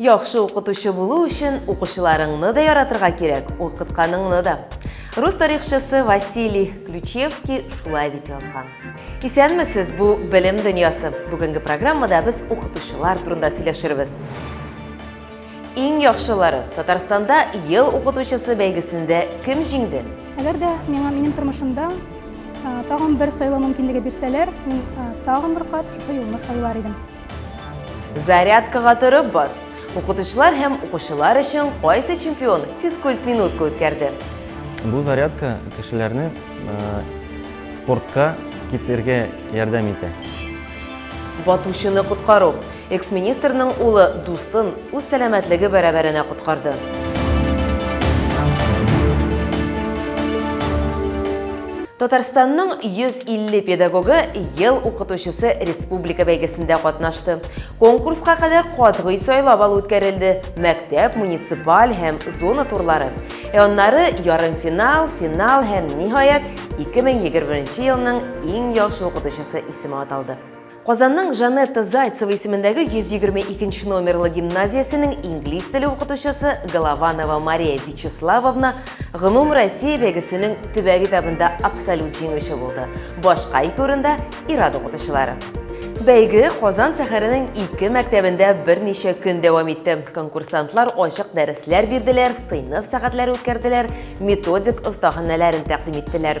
Яхшы укытучы булу өчен укучыларыңны да яратырга кирәк, укытканыңны да. Рус тарихчысы Василий Ключевский шулай дип язган. Исәнмесез, бу белем дөньясы. Бүгенге программада без укытучылар турында сөйләшербез. Иң яхшылары Татарстанда ел укытучысы бәйгесендә кем җиңде? Әгәр дә миңа минем тормышымда тагын бер сайлау мөмкинлеге бирсәләр, мин тагын бер кат шушы юлны сайлар идем. Зарядкага торып бас. Укытучылар һәм укучылар өчен кайсы чемпион физкульт минутка үткәрде? Бу зарядка кешеләрне спортка китергә ярдәм итә. Батучыны коткару. Экс-министрның улы дустын үз сәламәтлеге бәрабәренә коткарды. Татарстанның 150 педагогы ел укытучысы республика бәйгесендә катнашты. Конкурска кадәр катгый сайлап алу үткәрелде. Мәктәп, муниципаль һәм зона турлары. Ә аннары ярымфинал, финал һәм ниһаять 2021 елның иң яхшы укытучысы исеме аталды. Казанның Жанетта Зайцева исемендәге 122 нче номерлы гимназиясенең инглиз теле укытучысы Голованова Мария Вячеславовна Гомум Россия бәйгесенең төбәк этабында абсолют җиңүче булды. Башка ике урында Ирад укытучылары. Бәйге Казан шәһәренең ике мәктәбендә берничә көн дәвам итте. Конкурсантлар ачык дәресләр бирделәр, сыйныф сәгатьләре үткәрделәр, методик остаханәләрен тәкъдим иттеләр.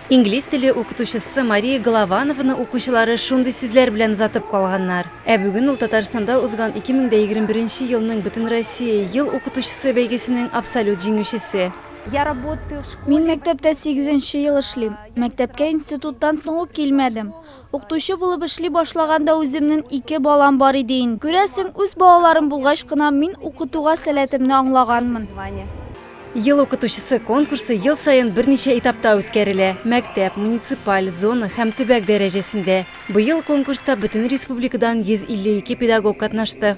Инглиз теле укытучысы Мария Голованованы укучылары шундый сүзләр белән озатып калганнар. Ә бүген ул Татарстанда узган 2021 елның Бөтенроссия ел укытучысы бәйгесенең абсолют җиңүчесе. Мин мәктәптә сигезенче ел эшлим. Мәктәпкә институттан соң ук килмәдем. Укытучы булып эшли башлаганда үземнен ике балам бар иде ин. Күрәсең, үз балаларым булгач кына мин укытуга сәләтемне аңлаганмын. Ел укытучысы конкурсы ел саен берничә этапта үткәрелә, мәктәп, муниципаль, зона һәм төбәк дәрәҗәсендә. Быел конкурста бөтен республикадан 152 педагог катнашты.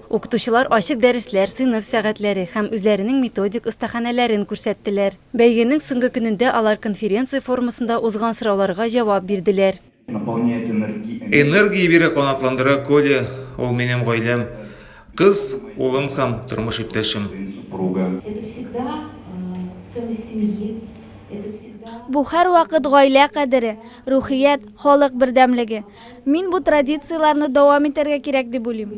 Укытучылар ачык дәресләр, сыйныф сәгатьләре һәм үзләренең методик остаханәләрен күрсәттеләр. Бәйгенең соңгы көнендә алар конференция формасында узган сорауларга җавап бирделәр. Энергия бирә, канатландыра Коля, ул минем гаиләм, кыз, улым һәм тормыш иптәшем. Бу һәрвакыт гаилә кадере, рухият, халык бердәмлеге. Мин бу традицияләрне дәвам итәргә кирәк дип уйлыйм.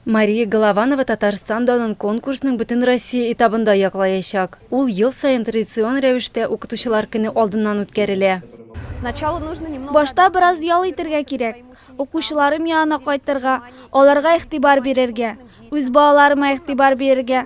Мария Голованова Татарстан данын конкурсның Бөтенроссия этабында яклаячак. Ул ел саен традицион рәвештә Укытучылар көне алдыннан үткәрелә. Башта бераз ял итәргә кирәк. Укучыларым янына кайтырга, аларга игътибар бирергә, үз балаларыма игътибар бирергә,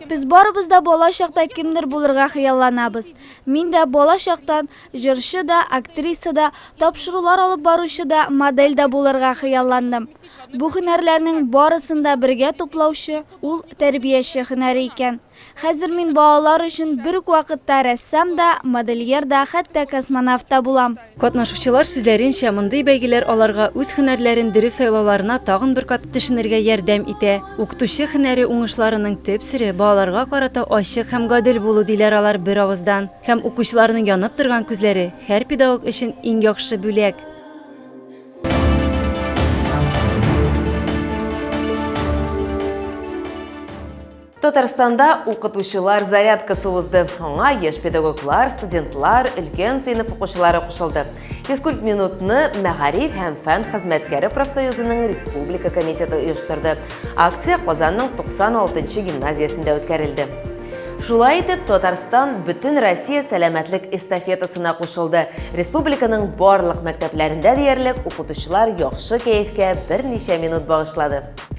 Без барыбыз да бала чакта кемдер булырга хыялланабыз. Мин дә бала чактан җырчы да, актриса да, тапшырулар алып баручы да, модель дә булырга хыялландым. Бу һөнәрләрнең барысын да бергә туплаучы ул тәрбияче һөнәре икән. Хәзер мин балалар өчен бер үк вакытта рәссам да, модельер да, хәтта космонавт та булам. Катнашучылар сүзләренчә, мондый бәйгеләр аларга үз һөнәрләрен дөрес сайлауларына тагын бер кат төшенергә ярдәм итә. Укытучы һөнәре уңышларының төп сере, балаларга карата ачык һәм гадел булу, диләр алар беравыздан. Һәм укучыларның янып торган күзләре, һәр педагог өчен иң яхшы бүләк. Татарстанда укытучылар зарядкасы узды. Аңа яшь педагоглар, студентлар, өлкән сыйныф укучылары кушылды. Физкульт минутны мәгариф һәм фән хезмәткәре профсоюзының республика комитеты оештырды. Акция Казанның 96-нчы гимназиясендә үткәрелде. Шулай итеп, Татарстан бөтен Россия сәламәтлек эстафетасына кушылды. Республиканың барлык мәктәпләрендә диярлек укытучылар яхшы кәефкә берничә минут багышлады.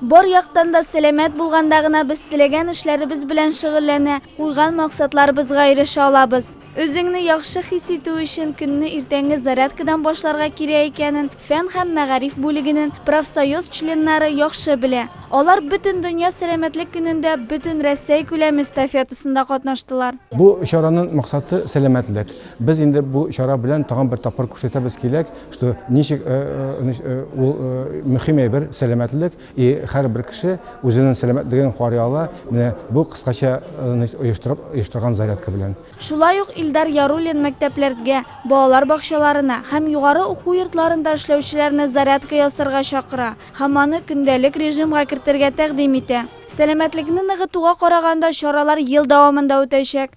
Бар яктан да сәламәт булганда гына без теләгән эшләребез белән шөгыльләнә, куйган максатларыбызга ирешә алабыз. Үзеңне яхшы хис итү өчен көнне иртәнге зарядкадан башларга кирәк икәнен фән һәм мәгариф бүлегенең профсоюз членнары яхшы белә. Алар Бөтендөнья сәламәтлек көнендә бөтен Рәсәй күләме эстафетасында катнаштылар. Бу чаранын максаты сәламәтлек. Без инде бу чара белән тагын бер тапкыр күрсәтәбез киләк, что ничек э, э, значит, э, ул э, мөһим әйбер сәламәтлек и һәрбер кеше үзенең сәламәтлеген карый ала менә бу кыскача э, значит, оештырып оештырган зарядка белән Шулай ук Илдар Яруллин мәктәпләргә, балалар бакчаларына һәм югары уку йортларында эшләүчеләрне зарядка ясарга чакыра һәм аны көндәлек режимга кертергә тәкъдим итә. Сәламәтлекне ныгытуга караганда чаралар ел дәвамында үтәчәк.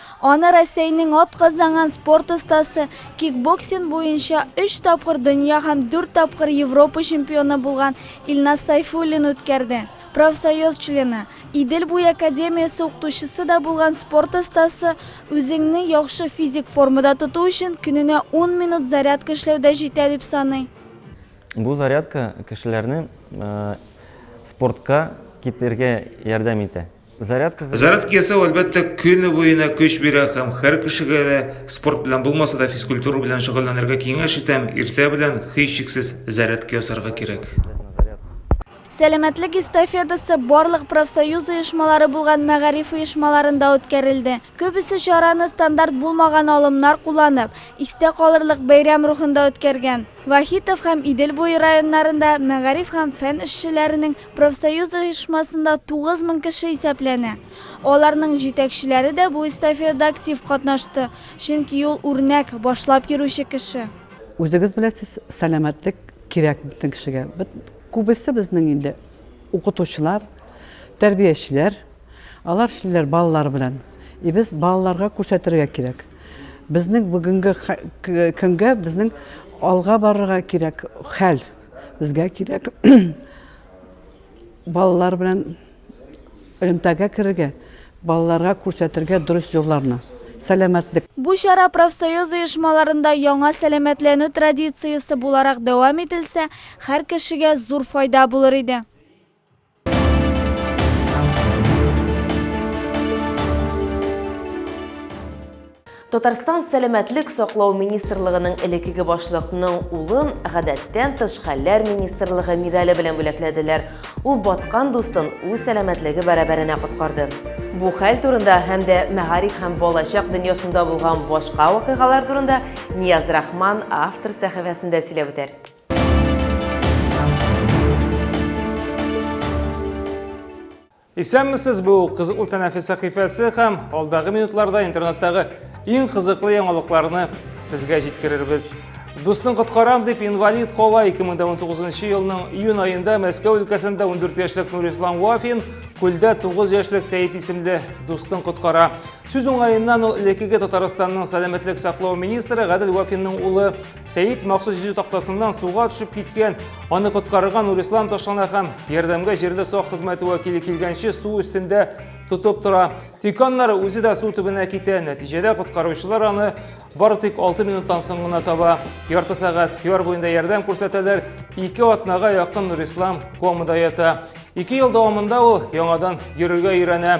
Аны Рәсәйнең атказанган спорт остасы, кикбоксинг буенча өч тапкыр дөнья һәм дүрт тапкыр Европа чемпионы булган Илназ Сайфуллин үткәрде. Профсоюз члены, Идел буе академиясе укытучысы да булган спорт остасы үзеңне яхшы физик формада тоту өчен көненә ун минут зарядка эшләү дә җитә дип саный. Бу зарядка кешеләрне спортка китергә ярдәм итә. Зарядка заряд... Зарядка ясау әлбәттә көне буена көч бирә һәм һәр кешегә дә спорт белән булмаса да физкультура белән шөгыльләнергә киңәш итәм. Иртә белән һичшиксез зарядка ясарга кирәк. Сәламәтлек эстафетасы барлык профсоюз оешмалары булган мәгариф оешмаларында үткәрелде. Күбесе чараны стандарт булмаган алымнар кулланып, истә калырлык бәйрәм рухында үткәргән. Вахитов һәм Идел буе районнарында мәгариф һәм фән эшчеләренең Профсоюз оешмасында 9 мең кеше исәпләнә. Аларның җитәкчеләре дә бу эстафиада актив катнашты, чөнки ул үрнәк, башлап йөрүче кеше. Үзегез беләсез, сәламәтлек кирәк бөтен кешегә. Күбесе безнең инде укытучылар, тәрбиячеләр. Алар эшлиләр балалар белән. И без балаларга күрсәтергә кирәк. Безнең бүгенге көнгә безнең алга барырга кирәк хәл. Безгә кирәк балалар белән элемтәгә керергә, балаларга күрсәтергә дөрес юлларны, сәламәтлек. Бу чара профсоюз оешмаларында яңа сәламәтләнү традициясе буларак дәвам ителсә, һәр кешегә зур файда булыр иде. Татарстан сәламәтлек саклау министрлыгының элекеге башлыкның улын гадәттән тыш хәлләр министрлыгы медале белән бүләкләделәр. Ул баткан дустын үз сәламәтлеге бәрабәренә коткарды. Бу хәл турында һәм дә мәгариф һәм балачак дөньясында булган башка вакыйгалар турында Нияз Рахман автор сәхифәсендә сөйләп үтәр. Исәнмесез, бу кызыклы тәнәфес сәхифәсе һәм алдагы минутларда интернеттагы иң кызыклы яңалыкларны сезгә җиткерербез. Дусның коткарам дип инвалид кола 2019 елның июнь айында Мәскәү өлкәсендә 14 яшьлек Нурислам Вафин күлдә 9 яшьлек Сәет исемле дустын коткара. Сүз уңаеннан ул элеккеге Татарстанның сәламәтлек саклау министры Гадел Вафинның улы Сәйит махсус йөзү тактасыннан суга төшеп киткән, аны коткарырга Нурислам ташлана һәм ярдәмгә җирле сак хезмәте вәкиле килгәнче су өстендә тотып тора. Тик аннары үзе дә су төбенә китә. Нәтиҗәдә коткаручылар аны бары тик 6 минуттан соң гына таба. Ярты сәгать яр буенда ярдәм күрсәтәләр. Ике атнага якын Нурислам комада ята. Ике ел дәвамында ул яңадан йөрергә өйрәнә.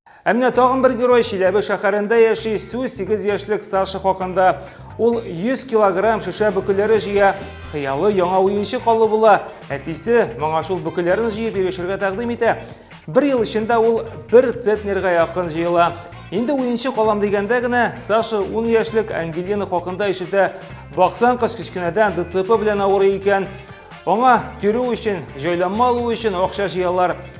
Ә менә тагын бер герой Чиләбе шәһәрендә яши, сүз 8 яшьлек Саша хакында. Ул 100 килограмм шешә бөкеләре җыя, хыялы яңа уенчык алу була. Әтисе моңа шул бөкеләрен җыеп ирешергә тәкъдим итә. Бер ел эчендә ул бер центнерга якын җыела. Инде уенчык алам дигәндә генә Саша 10 яшьлек Ангелина хакында ишетә. Баксан кыз кечкенәдән ДЦП белән авырый икән. Аңа йөрү өчен, җайланма алу өчен акча җыялар.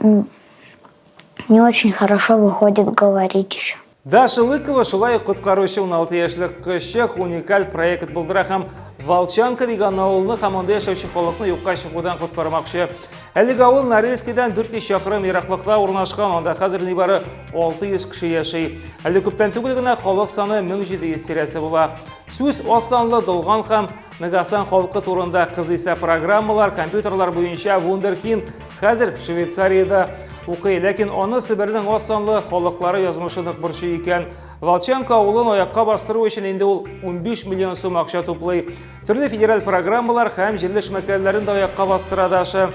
Не очень хорошо выходит говорить еще. Даша Лыкова шулай ук коткаручы 16 яшьлек кызчык уникаль проект булдыра һәм Волчанка дигән авылны һәм анда яшәүче халыкны юкка чыгудан коткармакчы. Әлеге авыл Норильскидан 400 чакрым ераклыкта урнашкан, анда хәзер нибары 600 кеше яши. Әле күптән түгел генә халык саны 1700 тирәсе була. Сүз аз санлы, долган һәм Нгасан халкы турында кызыйса программалар, компьютерлар буенча Вундеркин хәзер Швейцариядә укый, ләкин аны Себернең аз санлы халыклары язмышы нык борчый икән. Волченко авылын аякка бастыру өчен инде ул 15 миллион сум акча туплый. Төрле федераль программалар һәм җирле эшмәкәрләрен дә аякка бастыра Даша.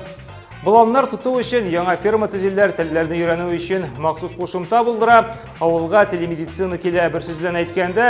Боланнар тоту өчен яңа ферма төзиләр, телләрне өйрәнү өчен махсус кушымта булдыра, авылга телемедицина килә. Бер сүз белән әйткәндә,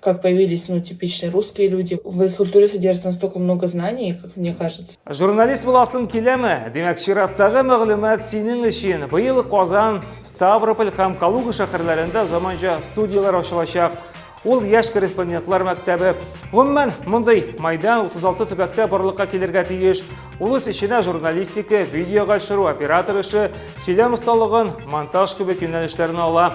Как появились, ну, типичные русские люди. В их культуре содержится настолько много знаний, как мне кажется. Журналист буласың киләме? Димәк, чираттагы мәгълүмат синең өчен. Быел Казан, Ставрополь һәм Калуга шәһәрләрендә заманча студияләр ачылачак. Ул яшь корреспондентлар мәктәбе. Гомумән, мондый майдан 36 төбәктә барлыкка килергә тиеш. Ул үз эченә журналистика, видеога төшерү, оператор эше, сөйләм осталыгын, монтаж кебек юнәлешләрне ала.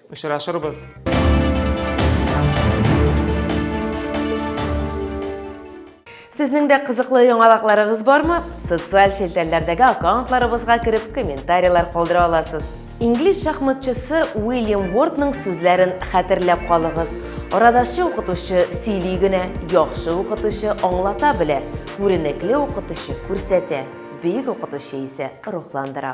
Очрашырбыз! Сезнең дә кызыклы яңалыкларыгыз бармы? Социаль челтәрләрдәге аккаунтларыбызга кереп комментарийлар калдыра аласыз. Инглиз шахматчысы Уильям Уортның сүзләрен хәтерләп калыгыз. Арадашы укытучы сөйли генә, яхшы укытучы аңлата белә, күренекле укытучы күрсәтә, бөек укытучы исә рухландыра.